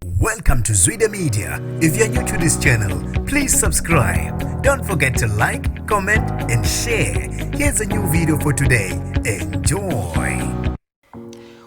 Welcome to Zwide Media. If you're new to this channel, please subscribe. Don't forget to like, comment and share. Here's a new video for today. Enjoy.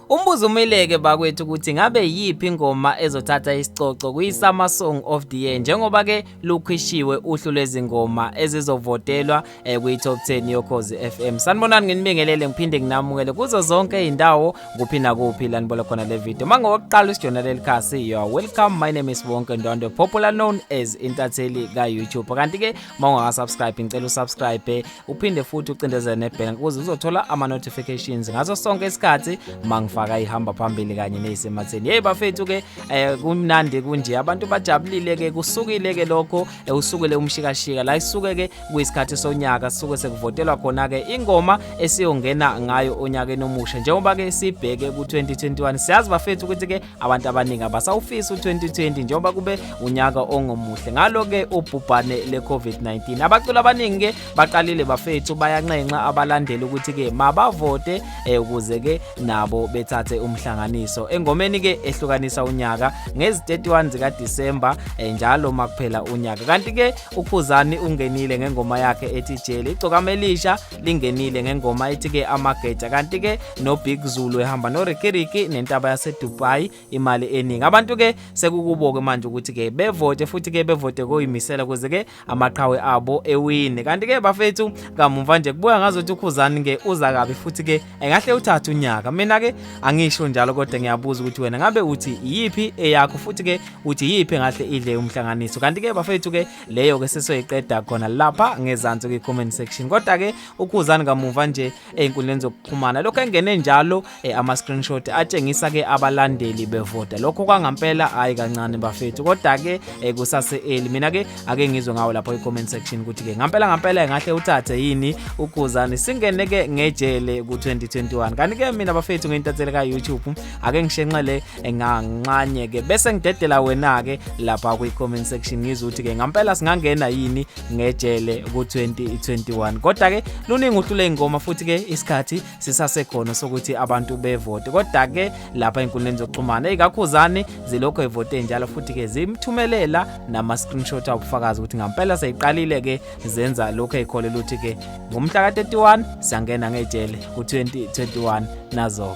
Umbuzo umeleke bakwethu ukuthi ngabe yiphi ingoma ezothatha isicoco kwi-Summer Song of the Year njengoba ke lukhishiwe uhlu lwezingoma ezizovotelwa eh kwi top 10 yokhozi FM sanibonani nginibingelele ngiphinde nginamukele kuzo zonke izindawo kuphi nakuphi la nibona khona le video manje ngokuqala usijona leli khasi you are welcome my name is Bonke Ndondo popular known as intatheli ka YouTube kanti ke mawunga subscribe ngicela usubscribe uphinde futhi ucindezele nebhela ukuze uzothola ama notifications ngaso sonke isikhathi mangifaka ihamba phambili kanye nezisematheni hey bafethu ke eh, kumnandi kunje abantu bajabulile ke kusukile ke lokho eh, usukele umshikashika la isuke ke kuyisikhathi sonyaka sisuke sekuvotelwa khona-ke ingoma esiyongena ngayo onyakeni omusha njengoba-ke sibheke ku-2021 siyazi bafethu ukuthi-ke abantu abaningi abasawufisi u-2020 njengoba kube unyaka ongomuhle ngalo-ke ubhubhane le-covid-19 abaculi abaningi-ke baqalile bafethu bayanxenxa abalandeli ukuthi-ke mabavote eh, ukuze-ke nabo bethathe umhlanganiso engomeni-ke ehlukanisa unyaka ngezi-31 zikadisemba eh, njalo makuphela unyaka kanti-ke ukhuzani ungenile ngengoma yakhe ethi jele igcokama elisha lingenile ngengoma ethi ke amageja kanti ke nobig zulu ehamba norikiriki nentaba yasedubai imali eningi abantu ke sekukubo-ke manje ukuthi ke bevote futhi ke bevote koyimisela kuze ke amaqhawe abo ewine kanti ke bafethu kamumva nje kubuya ngazothi ukhuzani ke uza kabi futhi ke engahle uthathe unyaka mina ke angisho njalo kodwa ngiyabuza ukuthi wena ngabe uthi iyiphi eyakho futhi ke uthi iyiphi engahle idle umhlanganiso kanti ke bafethu ke leyo ke sesoyiqeda khona lapha ngezansi kwi comment section kodwa ke ukhuzani kamuva nje einkundleni zokuxhumana lokho engene njalo eh, ama screenshot atshengisa ke abalandeli bevota lokho kwangampela hayi kancane bafethu kodwa ke eh, kusase eli mina ke ake ngizwe ngawo lapho i-comment section ukuthi-ke ngampela ngampela engahle uthathe yini ukhuzani singene-ke ngejele ku-2021 kanti-ke mina bafethu ngeyintatheli ka-youtube ake ngishenxele nganxanye-ke bese ngidedela wena-ke lapha kwi-comment section ngizwe ukuthi-ke ngampela singangena yini ngejele ku-2021 kodwa-ke luningi uhlu ley'ngoma futhi-ke isikhathi sisasekhona sokuthi abantu bevote kodwa ke lapha enkundleni zokuxhumana ikakhuzane zilokho evote njalo futhi ke zimthumelela nama screenshot awubufakazi ukuthi ngampela seyiqalile ke zenza lokho ekholela ukuthi ke ngomhla ka 31 siyangena ngejele ku 2021 nazo